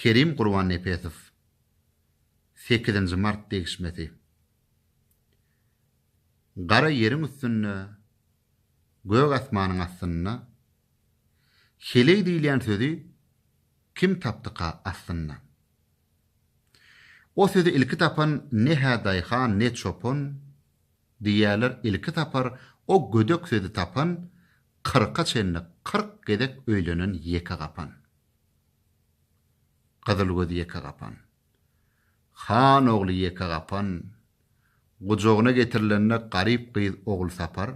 Kerim Gurbannepesow, Sekizinji mart degişmesi. Gara ýeriň üstünde, gök asmanyň astynda, Heleý diýilýän sözi kim tapdyka aslynda? O sözi ilki tapan ne-hä daýhan, ne çopan, Diýýärler, ilki sapar o gödek sözi tapan, Kyrka çenli kyrk gezek öýlenen ýeke gapan. Gyzyl göz ýeke gapan. Han ogly ýeke gapan gujagyna getirilende garyp gyz Ogulsapar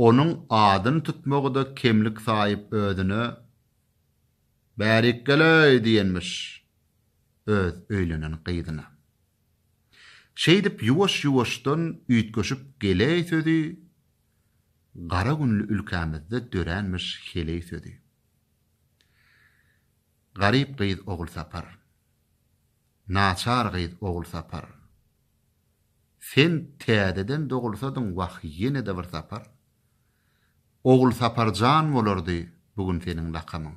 onuň adyny tutmagy-da kemlik saýyp özüne Bärikgeleý diýenmiş öz öýlenen gyzyna. Şeýdip ýuwaş-ýuwaşdan üýtgeşip geleý sözi gara günli ülkämizde döränmiş heleý sözi. Garyp gyz Ogulsapar. Naçar gyz Ogulsapar. Sen täzeden dogulsadyň wah ýene-de bir sapar. Ogulsapar jan bolardy bu gün seniň lakamyň.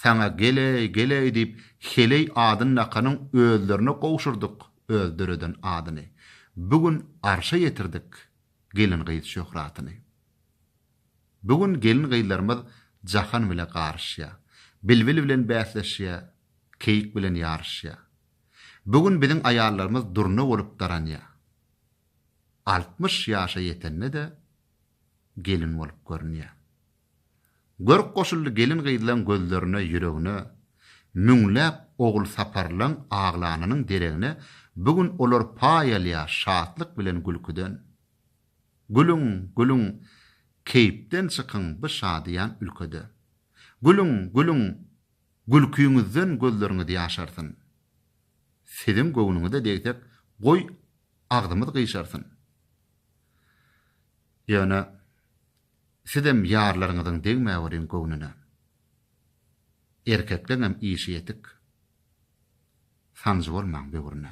Saňa Geleý, Geleý diýip heleý adyn dakanyň özlerine gowşurdyk öz döreden adyny. Bu gün arşa ýetirdik gelin gyz şöhratyny. Bu gün gelin-gyzlarymyz jahan bile garyşýar. Bilbil bilen bäsleşýär, keýik bilen ýaryşýar. Bu gün biziň aýallarymyz durna bolup daranýar. Altmyş ýaşa ýetende-de gelin bolup görünýär. Görk goşuldy gelin-gyzlaň gözlerine, ýüregine. Müňläp Ogulsaparlaň aglanynyň deregine bu gün olar paý alýar şatlyk bilen gülküden. Gülüň, gülüň, keýpden çykyň bu şadyýan ülkede. Gülüň, gülüň, gülkiňizden gözleriňiz ýaşarsyn. Siziň göwnüňize degsek, goý, agzymyz gyşarsyn. Ýöne sizem ýarlaryňyzyň degmäweriň göwnüne. Erkekleňem işi ýetik. Sanjy bolmaň böwrüne.